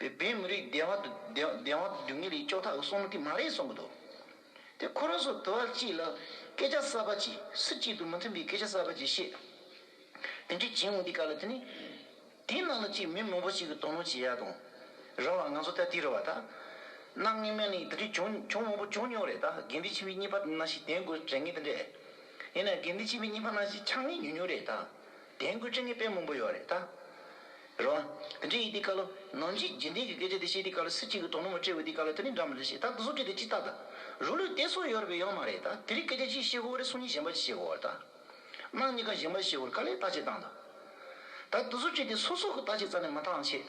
བོད་མི་རིགས་བདེ་བ་དུ་ངེས་རིགས་ཅོག་ཐག་གི་སྲོག་ནོར་གི་མ་རེད་གསུང་གི་འདུག་དེ་ཁོ་རང་ཚོ་དུ་བ་གཅིག་ལ་སྐད་ཆ་གསར་པ་གཅིག་སུ་གཅིག་ཏུ་མི་མཐུན་པའི་སྐད་ཆ་གསར་པ་གཅིག་བཤད་དེ་འདྲའི་བྱེད་འོང་དུས་ག་ལ་དེ་ནི་དེ་ནང་ལ་གཅིག་མི་མང་པོ་གཅིག་གི་དོ་སྣང་བྱེད་ཡ་དང་རང་ལ་ང་ཚོ་ལྟ་དེ་རུ་བ་ད་གནའ་སྔས་མན་ནས་དེ་འདྲའི་བྱུང་བྱུང་མང་པོ་བྱུང་མྱོང་རེད་ད་དགེ་འདུན་ཆེན་པོའི་གཉིས་པ་ན་ཞིག་དེང་དགོས་དྲན་ངེས་དེ་འདྲས་ཡིན་ན་དགེ་འདུན་ཆེན་པོའི་གཉིས་པ་ན་ཞིག་ཆགས་ངེས་ཉུང་ཉུང་རེད་ད། དེང་སྐུ་ཕྲེང་གི་དཔེ་མང་པོ་ཡོད་རེད་ད། རོ། འདི་འདྲའི་ཡིག་དེའི་བཀའ་ལོ། ནང་བཞིན་རྗེས་འདེད་ཀྱི་སྐད་ཆ་དེ་བཤད་དེའི་བཀའ་ལོ་སྲིད་སྤྱི་གི་དོ་སྣང་མ་འཕྲད་འོས་དེའི་བཀའ་ལོ་དེ་ནི་འདྲ་མི་འདྲ་བཤད་ད་བཟོ་སྐད་དེ་ཅི་ལྟར་ད། རུ་ལུས་ཏེ་སོགས་ཡོད་རེད་པས་ཡོད་མ་རེད་ད་དེ་རིགས་སྐད་ཆ་གཅིག་བཤད་གོ་རེ་སོང་གཉིས་གཞན་པ་གཅིག་བཤད་གོ་རེ་ད། སྣང་གཉིས་ཀ་གཞན་པ་བཤད་གོ་རེ་ག་ལས་བརྟག་དཔྱད་བཏང་ད། ད་བཟོ་སྐད་དེ་སོ་སོ་གི་བརྟག་དཔྱད་རྩ་ནས་མ་བཏང་ཆེད།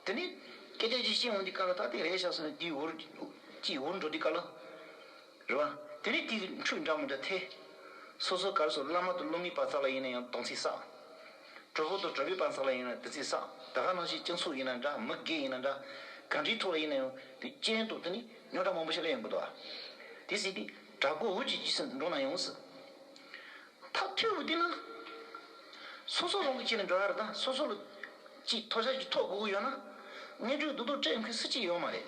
དེ་ནི། སྐད་ཆ་གཅིག་བཤད་འོང་དེའི་བཀའ་ལོ་ད་དེ་རེད་བཞག་སོང་ནས་དེའི་འུར། གཅིག་འུར་འགྲོ་དེའི་བཀའ་ལོ། རེད་བ། དེ་རིང་དེའི་རིགས་འཕྲུལ་འདྲ་མོ་འདྲ་ཐེ། སོ་སོའི་གར་སོགས་བླ་མ་དང་བློ་མིའི་པ་ཙག་ལ་ཡིན་ན་ཡང་སྡོང་ཚིག་བསགས། གྲོགས་པོ་དང་གྲོགས་པོའི་པ་ཙག་ལ་ཡིན་ན་བདུད་ཚིག་བསགས་ད་ག་ནང་བཞིན་སྤྱི་མཚུངས་ཡིན་ན་འདྲ་མི་དགེ་ཡིན་ན་འདྲ། གང་དྲིའི་ཐོག་ལ་ཡིན་ན་ཡང་དེ་སྤྱན་དང་དེ་ནི་རྙོག་དྲ་མང་པོ་ཞིག་ལ་ཡོང་གི་འདུག་བ། དེ་སྲིད་དེ་དྲ་གོ་འུར་གྱིས་རྗེས་སུ་འགྲོ་ན་ཡོང་སྲིད། ཐག་ཐོད་བུ་བསྟན་ན། སོ་སོ་རང་གི་སྤྱི་ལ་འགྲོ་ཡ་རེད་ད་སོ་སོ་ལ་སྤྱི་ཐོག་ཤར་གྱི་ཐོག་གོ་གི་ཡོད་ན། གནས་འཕྲུལ་རྡོ་རྡོ་སྤྲད་མཁན་སུ་གཅིག་ཡོད་མ་རེད།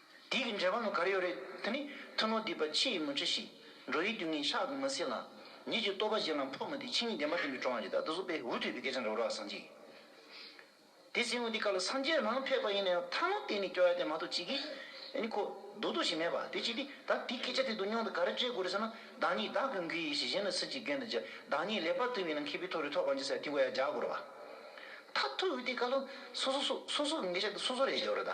དེ་གི་འགྲེལ་པ་ནི་གར་ཡོད་རེད་དེ་ནི་ཐུན་མོང་སྡིག་པ་ཕྱི་ཡི་མུན་ཁྲི་ཞིག་འགྲོ་ཡི་དུས་ངན་ཤག་ཏུ་མི་སྲིད་ལ། ཉིད་ཀྱི་རྟོག་པ་གཞན་ལ་འཕོ་མི་དེ་ཕྱི་ཉིད་བདེན་པ་བསྟན་པའི་གྲོང་ཁྱེར་དེ་ད་ལྟ་སོག་པའི་འུ་ཐུག་པའི་སྐད་ཆ་འདྲ་བོ་རག་སངས་རྒྱས་དེ་སྲིང་མོ་དེ་ག་ལ་སངས་རྒྱས་རང་ཕེབས་པ་ཡིན་ན་ཡང་ཐ་ནོ་གཏན་ནས་སྐྱོ་ཡ་དེ་མ་ཐུག་ཅིག་གིས་ཨནི་ཁོ་རྡོག་རྡོག་ཞིག་མེད་པ་དེ་ཅིག་དེ་ད་དེ་སྐད་ཆ་དེ་དུ་སྙོང་དུ་ག་རེ་སྤྲད་དགོས་རེད་ཟེར་ན་བདག་ཉིད་བདག་གི་མགུལ་ཡིན་ཞིག་གཞན་ལ་སུ་གཅིག་རྒན་དུ་བྱེད་བདག་ཉིད་ལེགས་པར་ཐུབ་ཡིན་ན་མཁས་པའི་ཐོག་རེ་ཐོག་གང་ཅི་ཟེར་དེ་གོ་ཡ་རྒྱག་དགོས་རེད་བ། ད་ཐུག་ཡོད་དེ་ག་ལ་སོ་སོ་སོ་སོ་གི་འགལ་ཆ་དེ་སོ་སོ་རེ་རྒྱག་རེད་ད།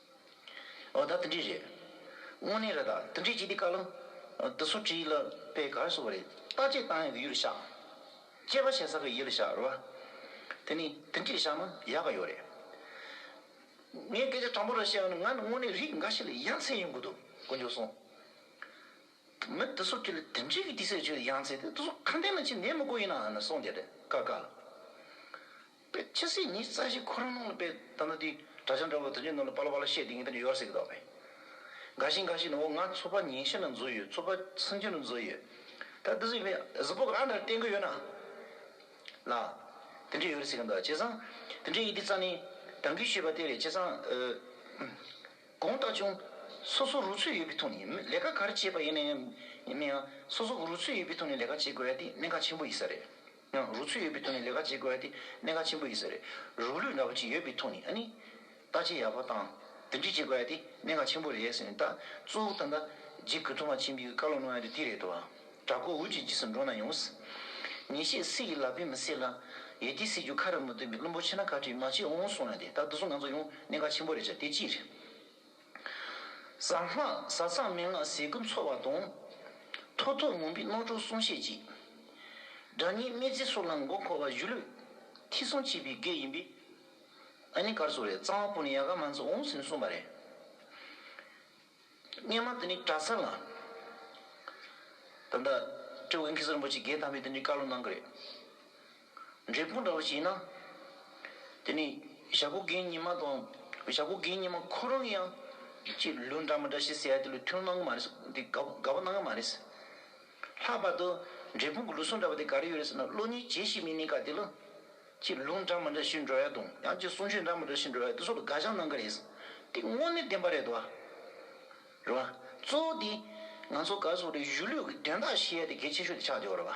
ཨོ་ད་ཏི་འདྲི་རེད། དངོས་གནས་རེད་ད་ཏི་འདྲི་བྱས་དུས་ཀ་ལུང། ཏི་སུ་བྲིས་ལ་པའི་གར་སོ་བ་རེད་ད་ཅེས་བཏང་ཡག་གི་ཡུལ་ལ་བཞག། ཅེས་པ་བྱས་ས་གི་ཡུལ་ལ་བཞག་རེད་བ། དེ་ནས་ཏི་འདྲི་བཞག་ན་ཡག་གི་ཡོད་རེད། ངས་སྐད་ཆ་དྲང་པོ་རེ་བཤད་ཡོང་ན་ང་ནི་དངོས་གནས་རིགས་འགའ་ཞིག་ལ་ཡ་མཚན་ཡོང་གི་འདུག་གོ་མཇུག་སོང། མི་ཏི་སུ་བྲིས་ལ་ཏི་འདྲི་གི་དུས་ཟེར་བྱས་ཡ་མཚན་དེ་ཏི་སུ་གང་ལྟས་ན་ཆེས་ནད་མི་དགོས་ཡིན་ནའང་ནི་སོང་བསྡད་རེད་ཀ་ཀ་ལ། པའི་ཕྱི་སྲིད་ཉིས་རྩ་བཞི་ཁོ་རང་ནང་ལ་པའི་ད་ནི་དུས་དགྲ་བྱ་འདྲ་བོ་དོན་གྱི་ནང་ལ་པ་ལ་བ་ལ་བཤད་དེ་ངེད་དང་ཡོར་སྲིད་གི་དོགས་པས། འགའ་ཞིག་འགའ་ཞིག་ནི་འོ་ང་ཚོ་པ་ཉིན་ཤས་ནང་འཛུལ་ཡོད་ཚོ་པ་སུན་ཅུན་རུ་འཛུལ་ཡོད། ད་དུས་ཚོད་གཟི་པོ་གི་ཨ་འདྲར་བསྟན་གི་ཡོད་ན། ལ། དེ་འདྲས་ཡོར་སྲིད་གི་འདུག་བྱས་ཙང་དེ་འདྲས་ཡིན་དུས་རྩ་ནི་དྲང་གི་ཤོད་པ་དེ་རེད་བྱས་ཙང། དགོངས་དག་ཅུང། སོ་སོ་རུ་ཚོད་ཡོད་པའི་ཐོག་ནས་ལས་ཀ་ག་རེ་བྱས་པ་ཡིན་ན་ཡང་མིན་ཡང་སོ་སོ་གི་རུ་ཚོད་ཡོད་པའི་ཐོག་ནས་ལས་ཀ་བྱེད་དགོས་ཡ་དེ་གནད་འགག་ཆེན་པོ་ཡིན་ས་རེད། ཡང་རུ་ཚོད་ཡོད་པའི་ཐོག་ནས་ལས་ཀ་བྱེད་དགོས་ཏེ་གནད་འགག་ཆེན་པོ་ཡིན་ས་རེད། རུ་ལུས་འདྲ་པོ་ཅིག་ཡོད་པའི་ཐོག་ནས་ནི། བརྟག་དཔྱད་ཡག་པོ་དང་འདེམས་སྒྲིག་བྱེད་དགོས་ཏེ་གནད་འགག་ཆེན་པོ་རེད་ཟེར་ནས་ད་གཙོ་བོ་ད་ལྟ་འཇིགས་སྐུལ་ཐོག་མ་ཆེན་པོའི་བཀའ་སློབ་གནང་ཡ་དེ་དེ་རེད་དོ། དྲག་པོ་འུ་ཅིག་འཇིགས་སུ་འགྲོ་ན་ཡོང། ཉེས་ཤེས་སྲིད་ཀྱི་ལག་པས་མི་སྲེག་ལ། ཡེ་ཏི་སྲིད་རྒྱུ་ཁ་རུ་མི་ལྡུང་བའི་བླུན་པོ་ཆེ་ན་ཁ་བྲིས་མ་བྱས་འོང་གསུང་ཡ་དེ་ད་བདུད་གཟུགས་ང་ཚོ་ཡོང་གནད་འགག་ཆེན་པོ་རེད་ཆ་དེ་ཅི་རེད། བཟང་སྔགས་གཟའ་ཚང་མན་ངག་ཟས་ཀུན་འཚོ་བ་དང། ཐོག་ཐུག་མུན་པའི་སྣོད་དྲུག་བསྲུང་ཤེས་ཀྱིས། དགྲ་གཉེན་སྨེ་བརྩེགས་སྲོག་ལམ་མགོ་འཁོར་བ་བཞི་ལུས། ཐིག་གསུམ་བྱིས་པའི་བགེགས་ཡིན་པས། ཨ་ནི་གར་སོགས་རེད་གཙང་བ་པོ་ནི་ཡ་ག་མ་འཚོ་འོང་ཟིན་གསུངས་པ་རེད། སྙན་མ་དེ་ནི་གྲ་ས་ལ། ད་ལྟ་སྤྲེའུ་གིང་ཁི་སི་རིན་པོ་ཆེ་རྒྱལ་དམ་པས་དེ་འདྲའི་བཀའ་སློབ་གནང་གི་རེད། འབྲས་སྤུངས་འདྲ་བ་ཞིག་ཡིན་ན། དེ་ནི་ཞྭ་གོ་དགེ་ཉི་མ་དང། ཞྭ་གོ་དགེ་ཉི་མ་ཁོ་རང་ཡང། ཅེས་ལུས་འདྲ་མ་འདྲ་ཞིག་ཟེར་ཡ་དེ་ལུས་ཐུན་གནང་གི་མ་རེད་ཟེར་དེ་དགའ་དགའ་བོ་གནང་གི་མ་རེད་ཟེར། ལྷག་པར་དུ་འབྲས་སྤུངས་ཀྱི་ལུས་ཟུངས་འདྲ་བ་དེ་ག་རེ་ཡོད་རེད་ཟེར་ན་གློ་སྙིང་རྗེ་ཞིག་མིན་ནི་ག་དེ་ལ། ཅེས་ལུས་འདྲ་མ་འདྲ་ཞིག་འགྲོ་ཡ་དང་ཡང་ཅིག་གསུང་ཆོས་འདྲ་མ་འདྲ་ཞིག་འགྲོ་ཡ་དེ་སོགས་ལ་དགའ་བྱང་གནང་གི་རེད་ཟེར་དེ་དངོས་གནས་བདེན་པ་རེད་དོ། རེད་བ། གཙོ་བོ་དེ། ང་ཚོ་ག་ཚོད་རེ་བཞུགས་ལུས་ཀྱི་དོན་དག་བྱེད་ཡ་དེ་གལ་ཆེ་ཤོས་དེ་ཆགས་བསྡད་བ་རེད་བ།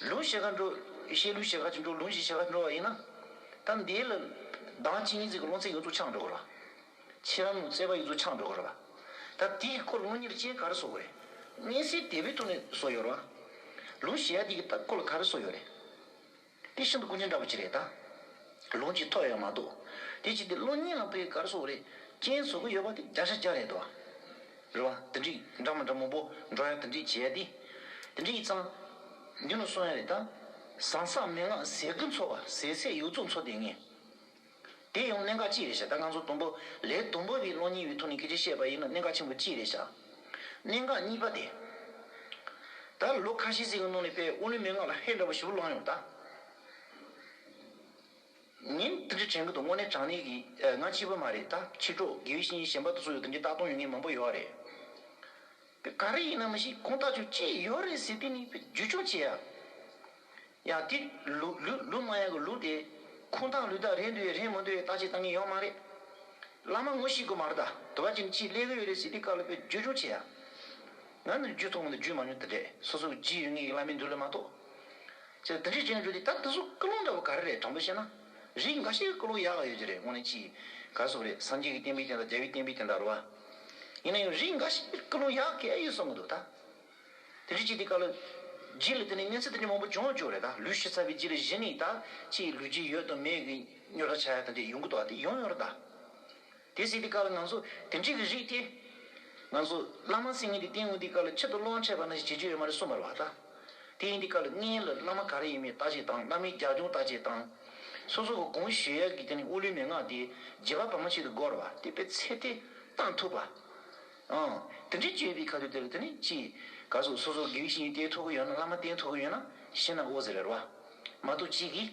ལུང་ཞེས་ཁ་འགྲོ། བཤད་ལུང་ཞེས་ཁ་ཅིག་འགྲོ་ལུང་ཞེས་བཤད་ཁ་ཅིག་འགྲོ་བ་ཡིན་ན། གཏམ་དེའི་ལ། གདངས་ཅི་ཡིན་ཚིག་གི་ལུང་ཚིག་ཡོངས་རྫོགས་ཆགས་འགྲོ་དགོས་རོ། ཕྱི་རམ་བརྩེ་བ་ཡོངས་རྫོགས་ཆགས་འགྲོ་དགོས་རོ། ད་དེའི་སྐོར་དངོས་གཉེར་ཅན་ག་རེ་བཟོ་དགོས་རེད། གནས་སའི་དད་པའི་ཐོག་ནས་བཟོ་ཡོད་རོ། ལུང་ཞེས་ཡ་འདི་གི་སྐོར་ལ་ག་རེ་བཟོ་ཡོད་རེད། དེ་ཤིན་ཏུ་ཀུན་མཁྱེན་འདྲ་པོ་ཅིག་རེད་ད། ལུང་གཅིག་ཐོག་ཡོད་མ་གཏོགས། དེ་ཅིག་དེ་བློ་གཉིས་ལངས་པའི་ག་རེ་བཟོ་རེད། རྐྱེན་བཟོ་གི་ཡོད་པ་དེ་བརྒྱ་ཆ་བརྒྱ་རེད་དོ། རེ་བ། དེ་འདྲི་འདྲ་མ་འདྲ་མང་པོ་འགྲོ་ཡང་དེ་འདྲི་བྱས་ཏེ། དེ་འདྲི་ཡིག་ཚང། འདི་ནོ་སོང་ཡ་རེད་ད། ཟང་ཟང་མན་ངག་ཟས་སྐུ་འཚོ་བ་ཟས་ཚད་ཡོ་རྫོགས་འཚོ་དེ་ངེས། དེ་ཡང་གནད་འགག་ཅི་རེད་བྱ་ད་ང་ཚོ་དུམ་བུ་ལས་དུམ་བུ་བའི་གློག་བརྙན་ཡོད་ཐོག་ནས་ཁྱེད་ཀྱིས་བཤད་པ་ཡིན་ན་གནད་འགག་ཆེན་པོ་ཅི་རེད་བྱ། གནད་འགག་གཉིས་པ་དེ། ད་ལོ་ཁ་ཤས་ཟིག་གི་ནང་ནས་པའི་ཨོ་ལིམ་མན་ངག་ལ་ཧད་འདྲ་པོ་ཞིག་ལོག་ཡོང་ད། ཉིན་རྟག་གཅིག་དྲན་གི་འདུག་དངོས་གནས་དྲང་གནས་གི་ང་གཅིག་པོ་མ་རེད་ད་ཕྱི་དྲོ་དགེ་བའི་བཤེས་གཉེན་གཞན་པ་དུ་སུ་ཡོད་དམ་ཅི་ལྟ་སྟོང་ཡོད་ངེས་མང་པོ་ཡོད་རེད་དཔེ་ག་རེ་ཡིན་ནམ་ཞིག་ཁོང་ལྟ་ཆོག་ཅི་ཡོད་རེད་ཟེར་དུས་ནི་ཕེབས་རྒྱུ་ཆུང་བྱས་ཡ་ཡ་དེ་ལུགས་ལུགས་ལུགས་མ་ཡ་གི་ལུགས་དེ་ཁུངས་དག་ལུས་དག་རེད་འདོད་ཡ་རེད་མི་འདོད་ཡ་ལྟ་ཅི་བཏང་གི་ཡོད་མ་རེད་བླ་མ་ངོ་ཤེས་དགོས་མ་རེད་ད་དུ་བ་ཅི་ནི་ཅི་ལས་གི་ཡོད་རེད་ཟེར་དུས་དཀའ་ལ་ཕེབས་རྒྱུ་ཆུང་བྱས་ཡ་ང་ནི་རྒྱུ་ཐོག་མ་དུ་རྒྱུས་མ་མྱོང་ད་དྲེད་སོ་སོ་གི་ཇི་ཡོད་ངེས་ཀྱི་བླ་མའི་མདུན་ལས་མ་གཏོགས། ཅེས་འདི་འདྲའི་སྤྱོད་འཇུག་དེ་ད་འདི་སོགས་ཀུན་སློང་འདྲ་བོ་ག་རེ་རེད་དྲང་པོས་བཤད་ན། རིགས་འགའ་ཤས་ཀུན་སློང་ཡག་ག་ཡོད་ཀྱི་རེད་དངོས་གནས་ཅི་ཡིན་ག་སོགས་རེད་སངས་རྒྱས་ཀྱི་བསྟན་པའི་སྟེང་དང་རྒྱལ་བའི་བསྟན་པའི་སྟེང་དང་རུ་བ། ཡིན་ན་ཡང་རིགས་འགའ་ཤས་ཀུན་སློང་ཡག་ག་ཡོད་གསུང་གི་འདུག་ད། དེ་འདྲའི་ཅི་དེ་ཀ་ལ། རྗེས་ལ་དེ་ནས་གནས་ཚུལ་དེ་འདྲའི་མང་པོ་འབྱུང་འགྱུར་རེད་ད་ལུས་ཤི་ཚར་བའི་རྗེས་ལ་གཞི་ནས་ད་ཅིའི་ལུས་རྗེས་ཡོད་དང་མེད་ཀྱི་སྨྱོ་རྟགས་ཆགས་ཡ་དང་འདྲ་ཡོང་གི་འདུག་ད་དེ་ཡོང་ཡོང་རེད་ད། དེ་གཟིགས་ཏེ་བཀའ་ལ་ང་ཚོ་དེ་འདྲིའི་གི་རིགས་ཏེ། ང་ཚོ་བླ་མ་སེང་གེ་འདི་སྟེང་དབུས་འདི་ཀ་ལ་ཆེད་དུ་སློང་ཆད་པ་ན་ཞིག་བྱེད་རྒྱུ་ཡོད་མ་རེད་གསུངས་པར་བ་ད། དེ་ཡིན་དེ་ཀ་ལ་ངའི་ལ་བླ་མ་ག་རེ་ཡིན་མིན་ལྟ་ཅིག་དང་བླ་མའི་རྒྱ་ཁྱུང་ལྟ་ཅིག་དང། སོ་སོ་གི་གུང་བཞེས་ཡག་གི་དེ་ནས་དབུ་ལུས་མན་ངག་དེ་རྗེ་བ་བ་མ་ཞིག་ཏུ་བསྒོར་བ་དེ་པའི་ཚེ་དེ་གཏང་ཐུབ་པ། ཨང། དེ་འདྲའི་སྤྱོད་པའི་ཁ་ཐུག་དེ་ལ་དེ་ནི་ཅི། ག་སོ་སོ་སོ་གིས་བཞིན་ཏེ་ཐུག་གི་ཡོད་ན་བླ་མ་བསྟེན་ཐུག་གི་ཡོད་ན་ཤི་ན་འོ་ཟེར་བར་བ། མ་ཐུག་ཅིག་གིས།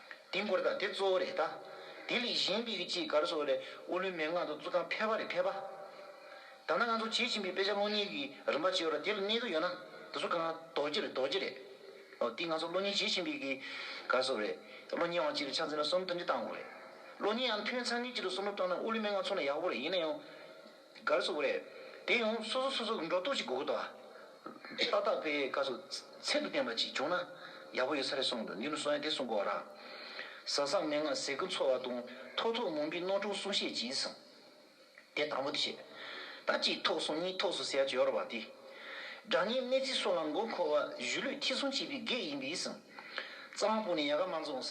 དེ་འགོར་དང་དེ་གཙོ་བོ་རེད་ད། དེ་ལས་གཞན་པའི་ཅི་དགར་སོགས་ལས་ཨོ་ལོའི་མན་ངག་དང་གཙུག་ཐང་ཕལ་བ་རེ་ཕལ་པ། ད་ནང་ང་ཚོ་བྱེད་ཀྱིན་པའི་དཔེ་ཆ་སློང་ཉེས་ཀྱི་རིམ་པ་བྱེད་པ་དེ་ལ་གནད་དུ་ཡོད་ན་དེ་ཚོ་གང་རྡོ་རྗེ་རེད་རྡོ་རྗེ་རེད། འོ་དེ་ང་ཚོ་སློང་ཉེས་བྱེད་ཀྱིན་པའི་གི་དགར་སོགས་རེད། སློང་ཉེས་དབང་གཅིག་རེ་ཆགས་འཛིན་ལ་གསུམ་ཐུན་སྒྲིལ་བཏང་དགོས་རེད། སློང་ཉེས་ཡང་ཐུན་ཚང་གཉིས་གཅིག་ཏུ་གསུམ་རེ་བཏང་ན་ཨོ་ལོའི་མན་ངག་ཚོ་ན་ཡག་པོ་རེད་ཡིན་ན་ཡང། གར་སོགས་བས། དེ་ཡང་སོ་སོ་སོ་སོ་འགྲོ་ལྡོག་ཅིག་གོ་གོ་དང། ཏག་ཏག་པའི་ག་སོགས་ཚད་དུ་བསྟན་པ་ཅིག་བྱུང་ན་ཡག་པོ་ཡོད་ས་རེད་གསུངས་འདུག་འདི་ནི་གསུང་ཡ་དེ་གསུང་གོ་ར། ཟ་བསམ་མན་ངག་ཟས་ཀུན་འཚོ་བ་དང་ཐོག་ཐོག་མུན་པའི་སྣོད་དྲུག་གསུང་བཤད་ཀྱིས། དེ་དང་པོ་དེ་བཤད། ད་ཅིག་ཐོག་གསུང་གཉིས་ཐོག་སུ་ཟེར་ཡར་བ་སྟེ། སྒྲ་སྙན་གནས་ཚིག་སོགས་ལ་མགོ་འཁོར་བ་གཞུ་ལུས་ཐི་སུང་བྱེད་པའི་གེགས་ཡིན་པས། རྩ་བ་པོ་ནས་ཡ་ག་མ་འཛོངས།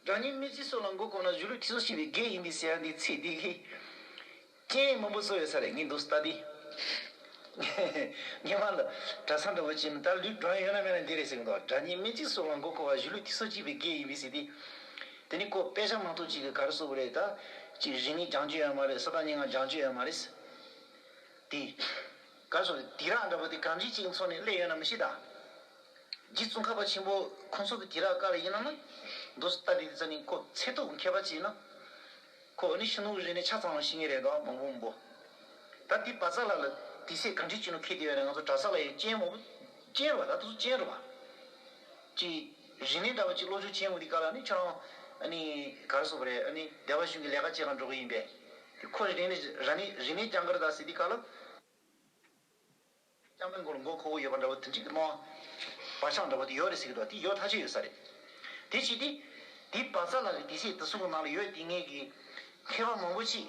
རང་ཉིད་མི་ཚེ་སྲོག་ལ་མགོ་བསྐོར་ན་གཞོན་ལུས་ཁྲི་སྲོང་ཤི་བའི་རྒས་ཡིན་པའི་ཟེར་ཡ་འདི་ཚེ་འདི་ལྷའི། སྤྱན་ཡིན་མོན་པོ་བཟོ་ཡོད་ས་རེད་ངས་འདུག་ཟླ་འདི། ཉི་མ་ལ། གྲྭ་ཚང་འདྲ་བོ་ཅིག་མི་དར་ལུས་བགྲང་ཡས་ཡོད་ན་མེད་ན་འདི་རེད་ཟེར་གི་འདུག་རང་ཉིད་མི་ཚེ་སྲོག་ལ་མགོ་བསྐོར་བ་གཞོན་ལུས་ཁྲི་སྲོང་ཤི་བའི་རྒས་ཡིན་པའི་ཟེར་འདི། དེ་ནི་ཁོ་དཔེ་ཆ་མང་ཐུག་ཅིག་གི་ག་རེ་བཟོ་བོ་རེད་ད། ཅིག་རིག་ནི་སྦྱང་བྱོས་ཡོད་མ་རེད་ས་དང་སྙན་ངག་སྦྱང་བྱོས་ཡོད་མ་རེད། དེ། ག་སོང་དེ་རག་འདྲ་པོ་དེ་གང་ཅི་ཅིག་འཚོགས་ནས་སླེ་ཡོད་ན་མི་ཤེས་ད། རྗེ་བཙུན་ཁ་བ་ཆེན་པོ་ཁོང་ཚོ་གི་དེ་རག་ག་ལ་ཡིན་ན་ན། མདོ་སྟ་འདི་དེ་ཙམ་ནས་ཁོ་ཚེ་ཐུག་མཁས་པ་ཅིག་ན། ཁོ་འོ་ནི་ཤིན་ཏུ་རིག་ནས་ཆ་ཚང་བ་ཞིག་ངེས་རེད་དོ་མང་པོ་མི་པོ། ད་དེ་བ་ཚ་ལ་ལ་དེ་སྲས་གང་ཅི་ཅིག་ནོ་ཁེ་དེ་ཡོད་ན་ང་ཚོ་གྲ་ས་ལ་ཡོད་ཅན་མོ་པོ་ཅན་རུ་བ་ད་དུ་ཅན་རུ་བ། ཀྱི། རིག་གནས་འདྲ་བ་གཅིག་བློ་ཆུང་ཆེན་ངོས་འདི་ཀ་ལ་ནི་ཁྱོད་རང། ནི། ག་རེ་བཟོ་བ་རེད་ཨ་ནི་སྡེ་བ་གཞུང་གི་ལས་ཀ་བྱེད་གང་འགྲོ་གི་ཡིན་པས། དེ་ཁོ་རེ་རེ་ནི་ར་ནི་རིག་གནས་རྐྱང་འགར་ད་སི་དི་ཀ་ལ། རྐྱང་པའི་མགོ་ལ་མགོ་ཁོག་པོ་ཡོད་པ་འདྲ་བོ་དེ་འགྲིག་གི་མོ། བ་ཆང་འདྲ་བོ་དེ་ཡོད་རེད་ཟེར་གི་འདུག་དེ་ཡོད་ཐག་ཆོད་ཡོད་ས་རེད། དེ་བྱས་ཏེ། དེ་བ་ཚ་ལགས་ཀྱི་དེ་བྱས་དེ་སོང་གི་ནང་ལ་ཡོད་དེ་ངེད་ཀྱི། མཁས་པ་མང་པོ་མཆིས།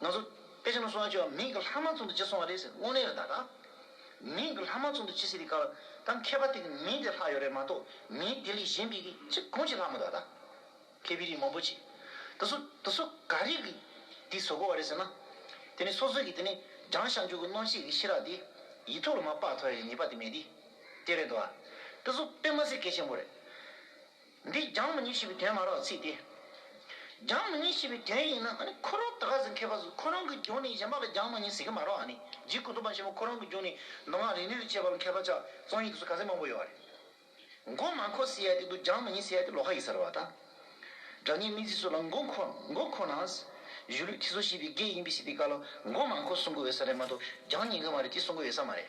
ང་ཚོ་དཔེ་ཆ་ནང་གསུང་བ་བཅོས་བ་མིང་གི་ལྷག་མ་ཙུང་དུ་ཅི་སོང་བ་རེད་ཟེར་དངོས་གནས་རེད་ད་ག་མིང་གི་ལྷག་མ་ཙུང་དུ་ཅི་སེ་རི་ཀ་བ་ད་མཁས་པ་དེ་གི་མིང་དེ་ལྷག་ཡོད་རེད་མ་ཏོག་མིང་དེ་ལས་གཞན་པི་གི་ཅི་གང་ཅི་ལྷག་མ་ད་ད་ཁེ་བི་རིགས་མང་པོ་ཅི་དེ་སུ་དེ་སུ་ག་རིགས་གི་དེ་བཟོ་དགོས་བ་རེད་ཟེར་ན་དེ་ནི་སོ་སོ་གི་དེ་ནི་སྦྲང་ཞག་འཇུག་གི་རྣོ་ཆེ་གི་ཤི་རག་དེ་ཡི་ཐུགས་ལ་མ་དཔག་ཐོ་ཡ་ཡི་ཉེས་པ་དེ་མེད་དེ་དེ་རེད་དོ་བ་དེ་སུ་དཔེ་མ་ཟེར་གལ་ཆེན་པོ་རེད། འདིས་རྒྱང་མི་ཉེ་ཞེས་པའི་དོན་མ་རག་ཚིག་སྟེ། རྒྱང་མི་ཉེ་ཞེས་པའི་དོན་ཡིན་ན་ཁོ་རང་ད་ག་ཟེ་མཁས་པ་ཟིག་ཁོ་རང་གི་རྒྱུགས་ནི་གཞན་པ་ལ་རྒྱང་མི་ཉེ་ཟེར་གི་མ་རག་ཨ་ནི་རྗེ་སྐུ་གདུང་པ་ཆེན་པོ་ཁོ་རང་གི་རྒྱུགས་ནི་མདོ་སྔགས་རིག་གནས་ལ་དཔྱད་པ་ལ་མཁས་པ་ཆགས་རྩོམ་ཡིག་དུ་སུ་ག་ཚད་མང་པོ་ཡོད་བ་རེད། མགོ་མ་འཁོར་ཟེར་ཡ་དེ་འདུག་རྒྱང་མི་ཉེ་ཟེར་ཡ་དེ་ལོག་ཁ་ཡིག་ཟེར་བ་དང། སྒྲ་སྙན་སྨྲེ་ཚིག་སོགས་ལ་མགོ་འཁོར་མགོ་འཁོར་ནའང་གཞུ་ལུས་ཐིག་ཚོ་ཞེས་པའི་སྐད་ཡིན་པས་སྲིད་པའི་བཀའ་ལ་མགོ་མ་འཁོར་གསུང་གི་འོས་ས་རེད་མ་གཏོགས་རྒྱང་ཉེ་གི་མ་རེད་ཅེས་གསུང་གི་འོས་ས་མ་རེད།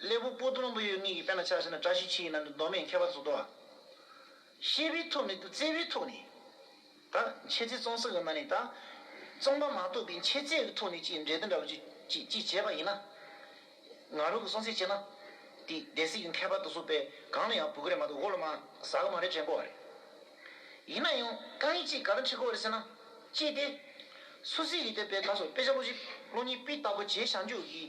སླེ་བུ་པོ་སྡོང་བུ་ཡོད་ངེས་ཀྱི་དཔེ་ན་ཆགས་ཤེ་ན་བཀྲ་ཤིས་འཁྱིལ་ཡི་ནང་དུ་མདོ་མེད་མཁས་པ་གཙུག་ཏོ། ཤེས་པའི་ཐུགས་ནི་བརྩེ་བའི་ཐུགས་ནི། ད་འཆད་རྩིས་བཙོང་སྲིད་གི་ན་ནི་ད། བཙོང་པ་མ་གཏོགས་པའི་འཆད་རྩིས་ཀྱི་ཐུགས་ནི་ཅིག་འབྲེལ་དེ་འདྲ་བ་ཅིག་ཅིག་བྱས་པ་ཡིན་ན། ང་རོ་གི་བཙོང་སྲིད་བྱས་ན། དེ་སྡེ་སྲིད་ཀྱི་མཁས་པ་དུ་སུ་པས་གང་ལ་ཡང་བུ་ག་རེ་མ་གཏོགས་ཧོ་ལོ་མ་ཟ་གི་མ་རེད་དྲན་གོ་བ་རེད། ཡིན་ན་ཡང་རྐང་ཡིག་ཅིག་ག་རེ་འཁྲིད་གོ་བ་རེད་ཟེར་ན། ཅི་སྟེ། སུ་སི་ཡི་དེ་པའི་ད་སོ་པེ་ཆ་ལོ་བཞི་ལོ་གཉིས་པི་ལྟ་བུ་བྱས་བཞག་འཇུག་གི།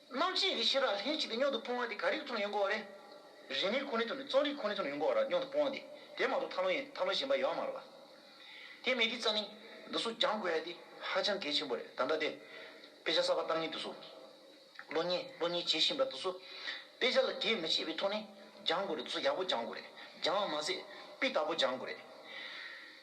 རྣམ་ཤེས་རིག་ཤེས་རབ་ལྷན་ཅིག་ཏུ་སྙོམས་དུ་སྤོང་བ་དེ་ག་རིགས་ཚོར་ཡོན་གོ་རེ། རིག་མིན་ཁོ་ནའི་དོན་ནི་རྩོལ་རིག་ཁོ་ནའི་དོན་ཡོན་གོ་ར་སྙོམས་དུ་སྤོང་བ་དེ་དེ་མ་གཏོགས་ཐ་ལོ་ཡན་ཐ་ལོ་གཞན་པ་ཡོད་མ་རེད་ལ། དེ་མེད་དུས་རྩ་ནི་འདི་སོགས་སྦྱང་དགོས་ཡ་དེ་ཧ་ཅང་གལ་ཆེན་པོ་རེད་ད་ལྟ་དེ། དཔེ་ཆ་གསར་པ་གཏང་ཉིན་དུ་སོགས་ལོ་གཉིས་ལོ་གཉིས་བྱེད་བཞིན་པ་དུ་སོགས་དཔེ་ཆ་ལ་འགལ་མི་བྱེད་པའི་ཐོག་ནས་སྦྱང་དགོས་རེད་དུ་སོགས་ཡག་པོ་སྦྱང་དགོས་རེད་སྦྱང་བ་མ་ཟད་དཔེ་དག་པོ་སྦྱང་དགོས་རེད།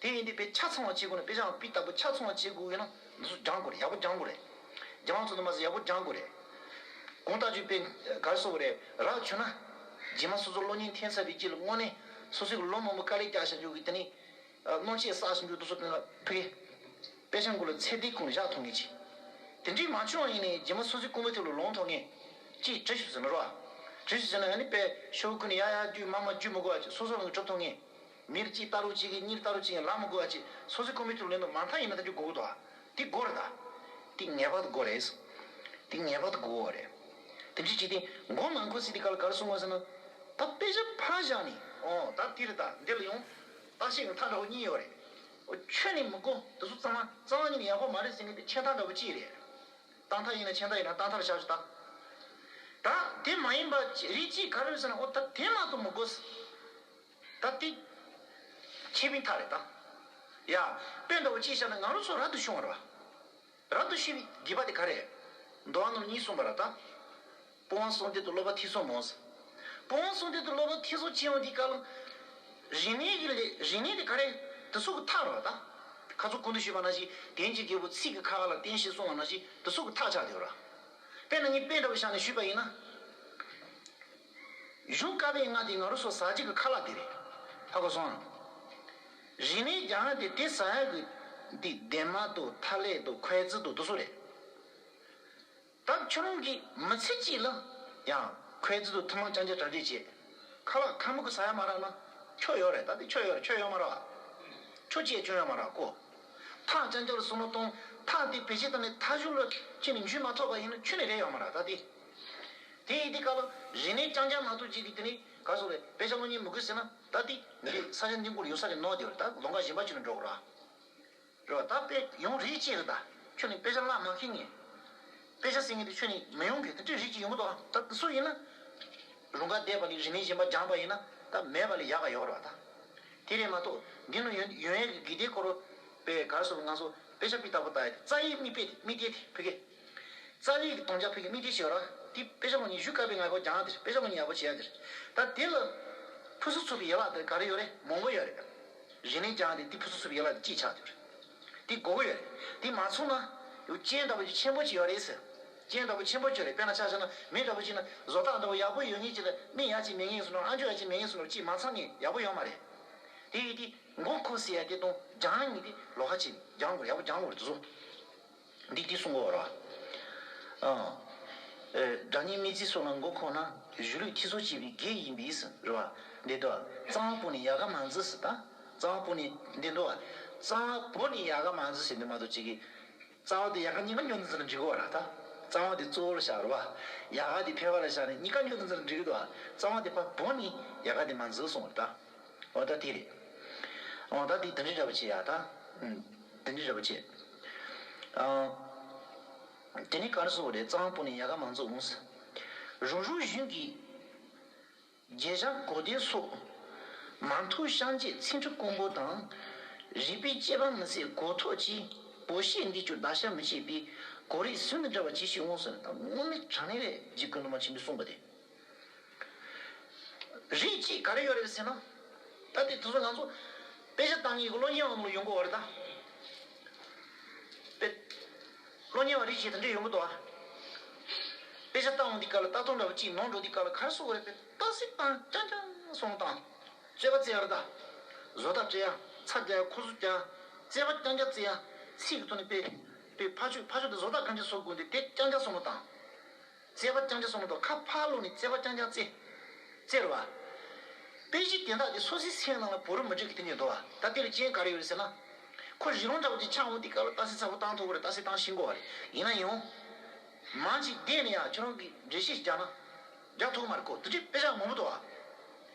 དེ་ཡིན་དུས་དཔེ་ཆ་ཚང་བ་བྱེད་དགོས་ན་དཔེ་ཆའང་དཔེ་ལྟ་བུ་ཆ་ཚང་བ་བྱེད་དགོས་ན་མི་སུ་སྦྱང་དགོས་རེད་ཡག་པོ་སྦྱང་དགོས་རེད། སྦྱང་བ་ཙམ་དུ་མ་ཟད་ཡག་པོ་སྦྱང་དགོས་རེད། གོང་ལྟ་སྤྱོད་དཔེ་གར་སོགས་ཀྱི་རེད་རགས་བྱུང་ན། རྗེས་མ་སོ་སོ་གློག་བརྙན་འཐེན་ཚར་བའི་རྗེས་ལ་དངོས་གནས་སོ་སོའི་གློག་མང་པོ་དཀའ་ལས་རྒྱག་བཞག་རྒྱུ་གི་དེ་ནས། གནོད་ཆས་བསགས་བཞག་རྒྱུ་རྡོ་སོལ་སྟོན་ལ་ཕུད་ཀི། དཔེ་ཆ་འགོ་ལ་ཚད་ལྡན་གང་ལ་བཞག་ཐོག་ངེས་ཅི། དེ་འདྲའི་མ་བྱུང་བ་ཡིན་ནས་རྗེས་མ་སོ་སོའི་ཀུ་མུ་ཐེ་ལོ་ལོངས་ཐོག་ངེས། ཅེས་དྲི་ཞིབ་ཟེར་ན་རོ། དྲི་ཞིབ་ཟེར་ན་ཡང་ནི་དཔེ་ཤོག་ཀུན་ནས་ཡ་ཡ་རྒྱུས་མ་མ་རྒྱུས་མི་གོ་བ་ཅིག་སོ་སོ་རང་གིས་གྲུབ་ཐོག་ངེས། མིར་གཅིག་ལྟ་རུ་གཅིག་གིས་གཉིས་ལྟ་རུ་གཅིག་ཡང་ལག་མ་དགོས་བ་གཅིག་སོ་སོའི་ཁོ་མོའི་ཐུགས་ལན་དུ་མ་མཐའ་ཡིན་ན་ཐ་ཆུ་དགུ་དགུ་དོ། འདི་དགོ་རེད་ད། འདི་ངེས་པར་དུ་དགོ་རེད། འདི་ངེས་པར་དུ་དགོ་བ་རེད། དེ་བཞིན་གཅིག་དེ་མགོ་ནང་ཁུ་སི་དེ་ག་ལ་གར་སོང་ངོ་ཟེར་ན། ད་དཔེ་ཆ་ཕར་བཞག་ནས་ཨོ་ད་འདི་རེད་ད་འདི་ལ་ཡོང། བརྟག་དཔྱད་ཀྱི་མཐའ་འདྲ་བོ་གཉིས་ཡོད་རེད། འོ་ཁྱོད་ནི་མི་དགོ་འདི་ཚོ་གཙང་མ་གཙང་བ་གཉིས་ནི་ཡག་པོ་མ་རེད་ཟེར་ངེས་པའི་ཆད་མཐའ་འདྲ་བོ་གཅིག་རེད། བརྟག་མཐའ་ཡིན་ན་ཆད་མཐའ་ཡིན་ན་བརྟག་མཐར་བཞག་ཅི་ད། ད་དེ་མ་ཡིན་པ་རིགས་གཅིག་ག་རེ་ཟེར་ན་ཨོ་ད་དེ་མ་གཏོགས་མི་དགོ། ད་ཏིག། ཁྱེད་མི་ཐ་རེ་ད། ཡ། དཔེ་འདྲ་བོ་ཅིག་བཞག་ན་ང་རོ་ཚོ་ར་ཏུ་ཤོང་བ་ར། ར་ཏུ་ཤི་བའི་དགེས་པ་དེ་ག་རེ། མདོ་བ་ནོར་གཉིས་གསུངས་པ་ར་ད། སྤོ་བང་སོང་སྡེ་དུ་སློབ་པ་ཐིག་སོ་མོང། སྤོ་བང་སོང་སྡེ་དུ་སློབ་པ་ཐིག་སོ་ཅན་བ་འདི་ཀ་ལ། རིག་གནས་ཀྱི་ལས་རིག་གནས་དེ་ག་རེ། དེ་སོག་གི་ཐག་ར་ད། ཁ་ཚུགས་ཀུན་ཏུ་ཤེས་པ་ན་ཞིག་དེན་གྱི་རྒྱལ་པོ་ཚིག་གི་ཁ་ཁ་ལ་བརྟེན་ཞེས་གསུངས་བ་ན་ཞིག་དེ་སོག་གི་ཐག་ཆག་དེ་བ་ར། དཔེ་ན་ནི་དཔེ་འདྲ་བོ་བཞག་ནས་ཞུས་པ་ཡིན་ན། བཞུགས་དཀའ་བའི་སྔགས་འདི་ང་རོ་སོ་ཟ་གཅིག་གི་ཁ་ལག་འདི་རེད། ཧ་གོ་སོང། རིན་མེད་རྒྱ་ཧ་འདི་དེ་ཟ་ཡག་གི། འདི་ལྡན་མ་དོ་ཐ་ལེ་དོ་ཁོའེ་ཙི་དོ་དོ་སོ་རེད། བདག་ཁྱོད་རང་གིས་མི་ཚེ་གཅིག་ལ། ཡང་ཁོའེ་ཙི་དོ་ཐུན་མང་ཅང་ཅང་གྲ་སྒྲིག་བྱེད། ཁ་ལག་ཁ་མུ་གི་ཟ་ཡག་མ་རག་ན། ཁྱོ་ཡོག་རེད་ད་དེ་ཁྱོ་ཡོག་རེད་ཁྱོ་ཡོག་མ་རག། ཁྱོ་ཅེ་ཅོ་ཡོག་མ་རག་གོ། ཐག་ཅང་ཅང་ལ་སོ་མ་གཏོང། ཐག་འདི་བེད་སྤྱད་ད་ནི་ཐག་གཞུག་ལ། ཁྱེད་ནི་འཇུས་མ་ཐོག་པ་ཡིན་ན་ཁྱོ་ནི་རེད་ཡོག་མ་རག་ད་དེ། དེ་ཡིས་དེ་བཀག་ལ། རིག་གནས་རྐྱང་རྐྱང་ནང་དུ་འཇིག་སྟེ་དེ་ནི་ག་སོགས་ལས། དཔེ་ཆ་བློ་ཉེས་མི་དགོས་ཟེར་ན། ད་དེ། འདི་ས་ཆ་འདི་མགུར་ཡོད་ས་རེད་ནོ་དེ་བས་ད་ལོ་འགའ་གཞན་པ་ཅིག་ལ་འགྲོ་དགོས་ར། རེད་བ། ད་དཔེ་ཡོང་རིགས་ཅི་རེད་ད། ཁྱོད་ནི་དཔེ་ཆ་བཀླག་མ་མཁས་ངེས། དཔེ་ཆ་སྲིད་ངེས་དེ་ཁྱོད་ནི་མི་ཡོང་གི་དེ་འདྲའི་རིགས་ཅིག་ཡོང་གི་འདུག་ད་སུ་ཡིན་ན། རུང་ག་འདས་པ་ལས་རིག་གནས་གཞན་པ་སྦྱངས་པ་ཡིན་ན་ད་མེད་པ་ལས་ཡག་ག་ཡོད་རེད་བ་ད། དེ་རེད་མ་གཏོགས་འདི་ནོ་ཡོན་ཡོན་ཡག་གི་དགེ་ལྡན་སྐོར། དཔེ་ག་སོགས་ལ་ང་ཚོ་དཔེ་ཆ་དཔེ་ལྟ་བུ་ལྟ་ཡི་རྩ་ཡི་རྨིས་པས་དེ་རྨིས་ཏེ་དེ་ཕི་གེ། རྩ་བའི་དོང་རྒྱ་ཕུག་གི་མིག་དེ་ཞེས་པ་ལ། དེ་དཔེ་ཆ་མོ་ཉིད་བཞུགས་དཀའ་བའི་ངང་གོ་གྱང་འདིར་དཔེ་ཆ་མོ་ཉིད་ཡག་པོ་བྱས་ཡ་འདིར། ད་དེ་ལ། ཕུ་སུ་ཚུབ་པའི་ཡན་ལག་འདིར་ག་རེ་ཡོད་རེད་མོང་པོ་ཡོད་རེད། རེ་ནས་གྱང་འདིར་དེ་ཕུ་སུ་ཚུབ་པའི་ཡན་ལག་འདི་གཅིག་ཆགས་འདུག་རེད། དེ་མགོ་བོ་ཡོད་རེད་དེ་མ་ཚུགས་ན། སྤྱན་ལྟ་བུ་ཆུ་ཆེན་པོ་གཅིག་ཡོད་རེད་ཟེར། སྤྱན་ལྟ་བུ་ཆེན་པོ་ཁྱོད་རེད་དཔེར་ན་ཆ་ཆ་ན་མེ་ལྟ་བུ་གཅིག་ན་བཟོ་ལྟ་འདྲ་བོ་ཡག་པོ་ཡོད་ངེས་ཅིག་ལ་མིག་ཡག་ཅིག་མེད་ངེས་སུ་ནོར་ཨ་མཆོག་ཡག་ཅིག་མེད་ངེས་སུ་ནོར་གཅིག་མ་ཚང་ངེས་ཡག་པོ་ཡོང་མ་རེད། དེ་ཡིས་དེ་མགོ་འཁོར་སྲིད་ཡ་དེ་དོང་གྱང་ཉིད་དེ་ལོ་ཧ་ཆེ་ནས་གྱང་དགོས་རེད་ཡག་པོ་གྱང་ལོག་རེད་དུ་བཟོ། འདི་སྐད་གསུང་གོ། སྒྲ་སྙན་མི་རྫི་སོགས་ལ་མགོ་འཁོར་ན། གཞུ་ལུས་ཁྱི་ཚོགས་བྱེད་པའི་བགེགས་ཡིན་པས། འདི་དོ། གཙང་བོ་ནི་ཡལ་ག་མ་འཛི་སྲིད། གཙང་བོ་ནི། འདི་དོ། གཙང་བོ་ནི་ཡལ་ག་མ་འཛི་སྲིད་འདི་མ་དོ་ཅི་གི། གཙང་བོ་དེ་ཡལ་ག་གཉིས་ཀ་ཉོ་འཛི་ལ་འགྲིག་གོ། གཙང་བོ་དེ་གཙོ་བོ་ལ་བཞག་རོ། ཡལ་ག་དེ་ཕལ་བ་ལ་བཞག་ནས་གཉིས་ཀ་ཉོ་འཛི་ལ་འགྲིག་གི། གཙང་བོ་དེ་ཕ་བོ་ནི་ཡལ་ག་དེ་མ་འཛི་གསུང། འོ་ད་དེ་རེད། འོ་ད་དེ་དིང་རི་ར་པོ་ཆེ་ཡག་ད། དིང་རི་ར་པོ་ཆེ། དེ་ནི་གར་སོ་བོ་རེད་གཙང་པོ་ནས་ཡ་ག་མང་ཚོགས་འོངས། རུ་རུ་བཞུན་གྱི་རྒྱལ་ཞང་གོ་དེ་སོགས། མ་མཐུ་ཤངས་བཅས་ཚིག་འཁྲུ་ཀོང་པོ་དང། རིག་པའི་དཔྱད་པ་མི་ཟད་གོ་ཐོག་ཅི། བོ་ཤེས་འདི་ཅོ་ད་ཤ་མི་བྱེད་པའི། གོ་རེ་ཟུར་འདི་འདྲ་བ་ཅི་ཞིག་འོངས། སྔོན་མའི་དྲང་གནས་ལས་རྗེ་ཀུན་དུ་མ་ཆེན་པོས་གསུངས་པ་དེ། རིགས་གཅིག་ག་རེ་ཡོད་རེད་ཟེར་ན། ད་དེ་དུས་སུ་ང་ཚོ་དཔེ་ཆ་བཏང་གི་གོ་ལོ་ཉེ་བ་མོ་ཡོང་གི་འོ་རེད་ད། དཔེ་ལོ་ཉེ་བ་རིགས་གཅིག་དེ་འདྲ་ཡོང་གི་འདུག་ཨ། དཔེ་ཆ་བཏང་འོང་དེ་ག་ལ་ལྟ་སྟངས་འདྲ་བོ་གཅིག་ནོར་འགྲོ་དེ་ག་ལ་ག་རེ་སོགས་རེད་དཔེ་ལྟ་སྲིད་བཏང་རྐྱང་རྐྱང་སོང་དང། རྩོད་པ་རྩེ་ཡ་རེད་ད། བཟོ་ལྟ་བྲེ་ཡ་ཚ་རྒྱག་ཡ་ཁོ་ཟུ་རྒྱག་ཡ་རྩེ་པ་རྐྱང་རྐྱང་རྩེ་ཡ་ཚིག་གི་ཐོག་ནས་དཔེ་དཔེ་ཕ་ཆོས་ཕ་ཆོས་དེ་བཟོ་ལྟ་གང་ཅི་སོགས་དགོས་འདུག་དེ་རྐྱང་རྐྱང་སོང་བ་དང། བརྩེ་བ་རྐྱང་རྐྱང་སོང་དོ་ཁ་ཕག་བླུགས་ནས་བརྩེ་བ་རྐྱང་རྐྱང་བརྩེ། བརྩེར་བ། དཔེ་གཞི་དེ་དག་གི་སོ་སིའི་སེམས་ནང་ལ་བོ་རུ་མི་འཇུག་གི་དེ་ནས་དོ་བ་ད་ལྟའི་བའི་རྐྱེན་ག་རེ་ཡོད་རེད་ཟེར་ན། ཁོ་རི་ལུང་འདྲ་བོ་ཅིག་ཆགས་འོང་དེ་སྐབས་ལ་རྟ་སེ་ཚ་བོ་བཏང་ཐོག་གོ་རེ་རྟ་སེ་བཏང་ཤིང་གོ་བ་རེ་ཡིན་ན་ཡང། མང་ཅིག་བསྡད་ནས་ཡང་ཁྱེད་རང་གིས་འགྲེལ་བཤད་ཞིག་རྒྱག་ན། རྒྱག་ཐོག་མར་ཁོ་དེ་དུས་དཔེ་ཆ་མང་པོ་དོ་བ།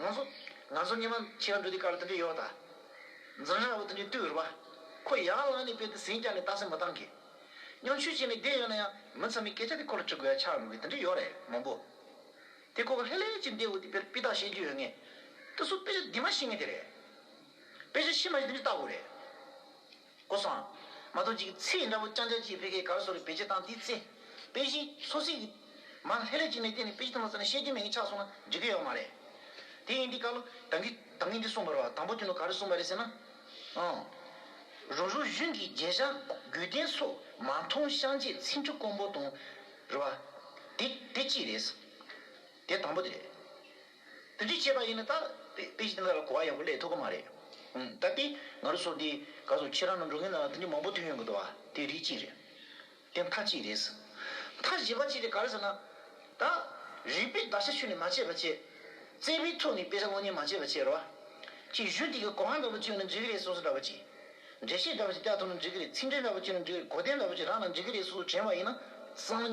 ང་ཚོ། ང་ཚོ་སྔས་མ་ཁྱེད་རང་འགྲོ་དུས་ཀར་འདི་འདྲ་ཡོད་ད། འཛིང་ཧ་འོ་འདི་འདྲའི་བསྟོད་རུ་བ། ཁོ་ཡར་ལངས་ནས་དཔེ་དེ་ཟིན་བསྐྱར་ནས་བལྟ་སེ་མི་བཏང་གི། སྙོམས་ཆུས་བཅད་ནས་བསྡད་ཡོད་ན་ཡང་མི་ཚང་མའི་སྐད་ཆ་དེ་ཁོ་ལ་དྲི་དགོས་ཡ་ཆགས་འགྲོ་གི་འདི་འདྲ་ཡོད་རེད་མང་པོ། དེ་ཁོ་ལྷད་ལྷད་ཀྱིས་འདས་འོ་དེ་དཔེར་དཔེ་དག་ཤེས་རྒྱུ་ཡོད་ངེས། ད་སུ་དཔེ་ཆ་འདི་མ་ཤེས་ངེས་དེ་རེད། དཔེ་ཆ་ཤེས་མ་ཤེས་འདི་འདྲ་བལྟ་དགོས་རེད། ཀོ་བཟང། མ་གཏོགས་འཇིག་ཚེས་འདྲ་བོ་སྤྱང་སྤྱང་བྱེད་ཕལ་ཁའི་གར་སོགས་ལ་བེད་སྤྱད་བཏང་དེའི་ཚེ། དཔེ་གཞི། སོ་སྲིད། མ་ལྷད་ལྷད་ཅིག་ནས་བལྟས་ནས་དཔེ་གཞི་ཐོག་མར་བཙལ་ནས་བཤད་རྒྱུ་མེད་ངེས་ཆགས་སོང་ན་འགྲིག་གི་ཡོད་མ་རེད། དེ་ཡིན་དུས་བཀའ་བློ་དང་གིས་དང་གིས་འདི་གསུངས་པར་བ་དང་པོ་དུས་ནས་ག་རེ་གསུངས་པ་རེད་ཟེར་ན། ཨང། རུ་རུ་གཞུན་གྱི་རྒྱལ་བཞག་རྒྱུད་ལྡན་སོགས་མ་མཐོང་ཤངས་ཆད་ཚིག་འབྲུ་དཀོན་པོ་དང། རུ་བ། དེ་དེ་གཅིག་རེད། དེ་དང་པོ་དེ་རེད། དེ་འདྲས་བྱས་པ་ཡིན་ན་ད། པེ་ཅིང་ལ་གོ་བ་ཡག་པོ་ལས་ཐུག་གི་མ་རེད། ད་ལྟའི་ང་རོ་སོགས་དེ་ག་སོགས་ཁྱེད་རང་རྣམས་འགྲོ་མཁན་ལ་དེ་འདྲས་མང་པོ་ཐོན་ཡོང་གི་འདུག་བ་དེ་རིགས་གཅིག་རེད། དེ་མཐའ་གཅིག་རེད། མཐའ་བཞི་པ་གཅིག་རེད་ག་རེད་ཟེར་ན། ད། རིག་པའི་བརྡར་ཤ་ཆུ་ནས་མ་བྱས་པ་བྱས། བརྩེ་བའི་ཐུགས་ནས་དཔེ་ཆ་གློག་བརྙན་མ་བྱས་པ་བྱས་རོགས། ཅིག་གཞུ་ཐིག་གི་གོ་ཧང་འདྲ་པོ་བཅོས་ན་འགྲིག་གི་རེད་སོ་སོ་འདྲ་པོ་ཅིག། འགྲེལ་བཤད་འདྲ་པོ་ཅིག་ལྟ་ཐུབ་ན་འགྲིག་གི་རེད་ཚིག་འགྲེལ་འདྲ་པོ་བཅོས་ན་འགྲིག་གི་རེད་གོ་བསྟན་འདྲ་པོ་ཅིག་རག་ན་འགྲིག་གི་རེད་སོ་སོ་དྲན་བ་ཡིན་ན། སང།